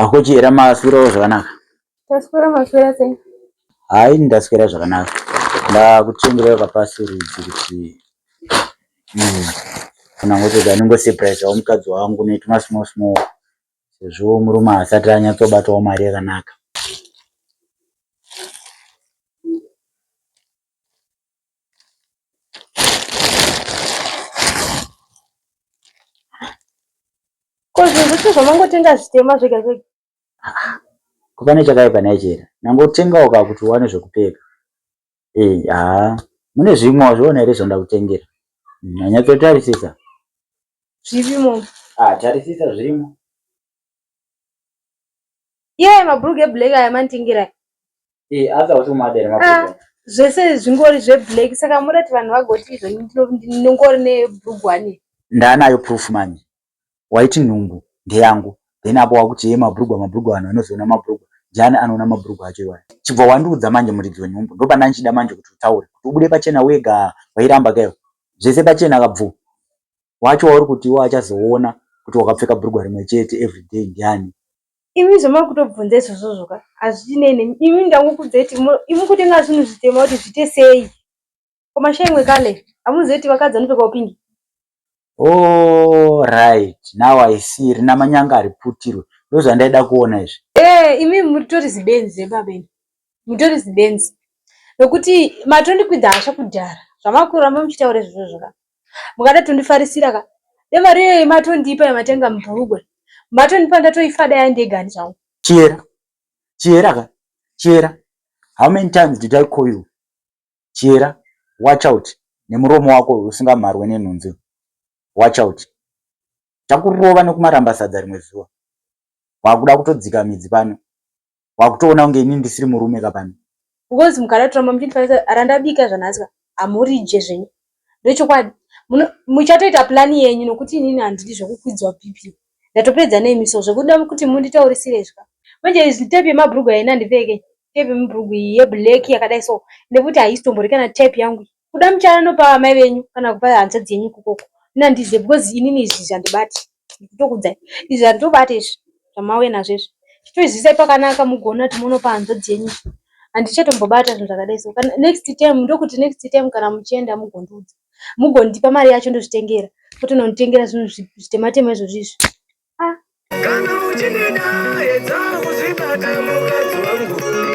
akuchiyera maswirawo zvakanaka taswira maswira sei hayi ndaswira zvakanaka ndakuchengerera kapasi rudzi kuti hmm, kana ngototi anongosepuraisawo mukadzi wangu netuma small small sezvo murume asati anyatsobatawo mari yakanaka Ko zvinhu zvese zvamangotenga zvitema zvega zvega. Ko pane chakaipa naye chera. Nangotengawo ka kuti uwane zvekupfeka. Eh, haa. Mune zvimwe wazviona here zvandakutengera? Nyanyatsotarisisa. Zvirimo. Ah, tarisisa zvirimo. Iye yeah, mabhurugwa eblack aya manditengera. Eh, aza kuti umadera mabhurugwa. Ah, zvese zvingori zveblack saka murati vanhu vagoti izvo ndinongori nebhurugwa ne. Ndanayo proof manje. Waiti nhumbu ndeyangu. Then apo wakuti ye mabhurugwa mabhurugwa vanhu vanozoona mabhurugwa. Jani anoona mabhurugwa acho iwayo. Chibva wandiudza manje muridzi wenhumbu. Ndopa ndanchida manje kuti utaure. Kuti ubude pachena wega wairamba keo. Zvese pachena kabvu. wacho wauri kuti iwe achazoona kuti wakapfeka brugwa rimwe chete everyday ndiani imi zvamakutobvunza izvozvozvo ka hazvitinei nemi imi ndangokudzai kuti imi kutenga zvinhu zvitema kuti zviite sei komashaimwe kale hamuzivi kuti vakadzi vanopfekawo pingi Oh, right. Now I see. Rina manyanga ari putirwe. Ndozvandaida kuona izvi. Eh, imi muritori zibenzi zebabeni. mutori zibenzi nokuti matondikwidza hasha kudhara zvamakuramba muchitaura izvozvo zvaka mukada tondifarisira ka nemari iyoyi matondipa yamatenga mubhurugwe matondipa ndatoifada yandegani zvangu chiera chiera ka chiera how many times did i call you chiera watch out nemuromo wako usingamharwe nenhunzi watch out takurova nekumaramba sadza rimwe zuva wakuda kutodzika midzi pano wakutoona kunge ini ndisiri murume ka pano because mukaratiramba muchindifanisa randabika zvanhasi ka hamurije zvenyu ndochokwadi muchatoita plani yenyu nokuti inini handidi zvekukwidzwa bp ndatopedza nemi so zvekuda kuti munditaurisire izvi ka manje izi tepi yemabhurugwa ina ndipfeke tepi yemabhurugwa iyi yeblack yakadai so nekuti haisi tombori kana tepi yangu iyi kuda muchaya nopa amai venyu kana kupa hanzvadzi yenyu kukoko ini handizive because inini izvi zvandibati ndikutokudzai izvi handitobati izvi zvamauya nazvo izvi chitoizwisai pakanaka mugoona kuti monopa hanzvadzi yenyu handichatombobata zvinhu zvakadai so kana next time ndokuti next time kana muchienda mugondiudza mugondipa mari yacho ndozvitengera kwete nonitengera zvinhu zvitematema izvozvi izvi ah. kana uchinida edza kuzvibata mukadzi wangu